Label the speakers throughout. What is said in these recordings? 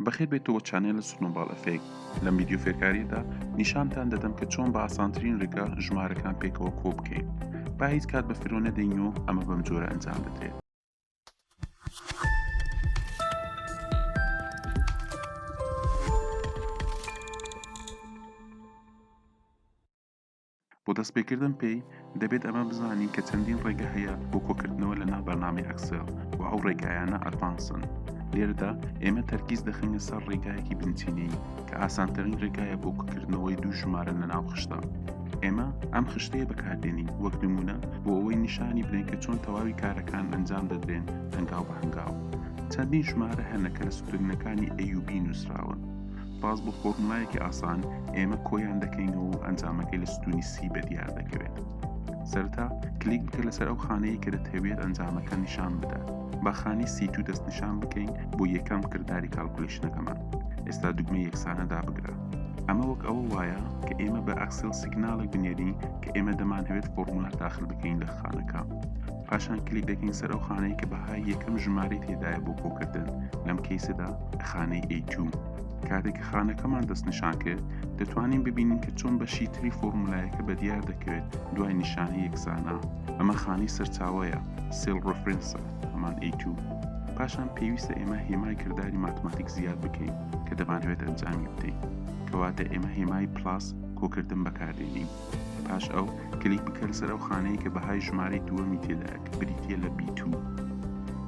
Speaker 1: بەخێر بێیتەوە چانێل سنۆباڵ ئەفێکت لەم ڤیدیۆ فێرکاریەدا نیشانتان دەدەم کە چۆن بە ئاسانترین ڕێگا ژمارەکان پێکەوە کۆ بکەین با هیچ کات بە فرۆ نەدەین و ئەمە بەم جۆرە ئەنجام بدرێت بۆ دەستپێکردن پێی، دەبێت ئەمە بزانین کە چەندین ڕێگە هەیە بۆ کۆکردنەوە لەناو بەرنامەی ئەکسێل و ئەو ڕێگایانە ئەدڤانسن. لێرەدا ئێمە تەرکیز دەخەینە سەر ڕێگایەکی بنچینەیی کە ئاسانترین ڕێگایە بۆ کۆکردنەوەی دوو ژمارە لەناو خشتە. ئێمە ئەم خشتەیە بەکاردێنین وەک نموونە بۆ ئەوەی نیشانی بدەین کە چۆن تەواوی کارەکان ئەنجام دەدرێن هەنگاو بە هەنگاو. چەندین ژمارە هەنە کە لە سترنگەکانی ئەیوبی نووسراون. سوپاس بۆ فۆرمولایەکی ئاسان ئێمە کۆیان دەکەینەوە و ئەنجامەکەی لە ستونی سی بە دیار دەکەوێت سەرتا کلیک بکە لەسەر ئەو خانەیە کە دەتەوێت ئەنجامەکە نیشان بدات بە خانی سی تو دەست نیشان بکەین بۆ یەکەم کردداری کاڵکولیشنەکەمان ئێستا دوگمە یەکسانە دابگرە ئەمە وەک ئەوە وایە کە ئێمە بە ئەکسل سیگناڵێک بنێرین کە ئێمە دەمانهوێت فۆرمولا داخل بکەین لە خانەکە پاشان کلیک دەکەین سەر ئەو خانەی کە بەهای یەکەم ژمارەی تێدایە بۆ کۆکردن لەم کەیسەدا خانەی A2 کاتێک کە خانەکەمان دەستنیشان کرد دەتوانین ببینین کە چۆن بەشی تری فۆرمولایەکە بە دیار دەکەوێت دوای نیشانی یەکسانە ئەمە خانی سەرچاوەیە سێل ڕفرنسە هەمان A2 پاشان پێویستە ئێمە هێمای کردداری ماتماتیک زیاد بکەین کە دەمانەوێت ئەنجامی بدەین کەواتە ئێمە هێمای پلاس کۆکردن بەکاردێنین. پاش ئەو، کلیک بکە لەسەر ئەو خانەیە کە بەهای ژمارەی دووەمی تێدایە کە بریتییە لە بی توو.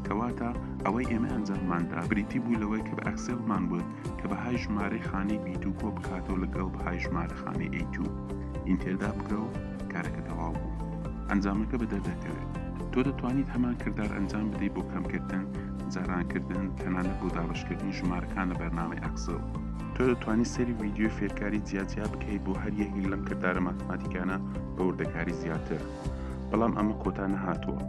Speaker 1: کەواتە ئەوەی ئێمە ئەنجاممان دا بریتی بوو لەوەی کە بە ئەکسێلمان وت کە بەهای ژمارەی خانەی بی دوو کۆ بکاتەوە لەگەڵ بەهای ژمارە خانەی ئەی توو. ئینتێر دابگرە و کارەکە تەواو بوو. ئەنجامەکە بە دەر دەکەوێت. تۆ دەتوانیت هەمان کردار ئەنجام بدەیت بۆ کەمکردن، جارانکردن، تەنانەت بۆ دابەشکردنی ژمارەکان لە بەرنامەی ئەکسڵ. تۆ دەتوانی سەری ویددیوی فێرکاری جیاجیا بکەیت بۆ هەر یەکێک لەم کردارە ماتماتیکانە بە وردەکاری زیاتر بەڵام ئەمە کۆتا نەهاتووە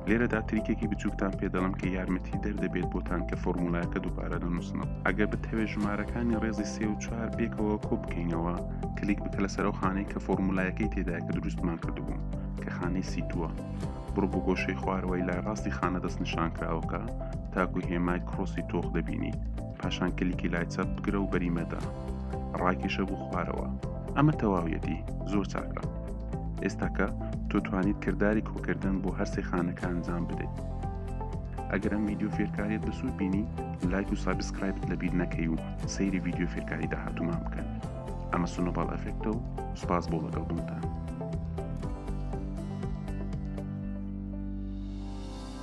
Speaker 1: لێرەدا تریکێکی بچووکتان پێ دەڵم کە یارمەتی دەردەبێت بۆتان کە فۆرمولایەکە دووبارە دەنووسنەوە ئەگەر بتەوێت ژمارەکانی ڕێزی سێ و چوار پێکەوە کۆ بکەینەوە کلیک بکە لەسەر ئەو خانەی کە فۆرمولایەکەی تێدای کە دروستمان کردبوو کە خانەی سیتووە بڕ بۆ گۆشەی خوارەوەی لای ڕاستی خانە دەست نیشان کراوەکە تاکو هێمای کرۆسی تۆخ دەبینیت پاشان کلیکی لای چەپ بگرە و بەری مەدە ڕاکیشە بۆ خوارەوە ئەمە تەواویەتی زۆر چاکە ئێستاکە تۆ توانیت کردداری کۆکردن بۆ هەرسێ خانەکە ئەنجام بدەیت ئەگەر ئەم ویددیو فێرکاریت بە سوود بینی لایک و سابسکرایبت لە بیر نەکەی و سەیری ویددیو فێرکاری داهاتومان بکەن ئەمە سنۆباڵ ئەفێکتە و سوپاس بۆ لەگەڵ بوونتان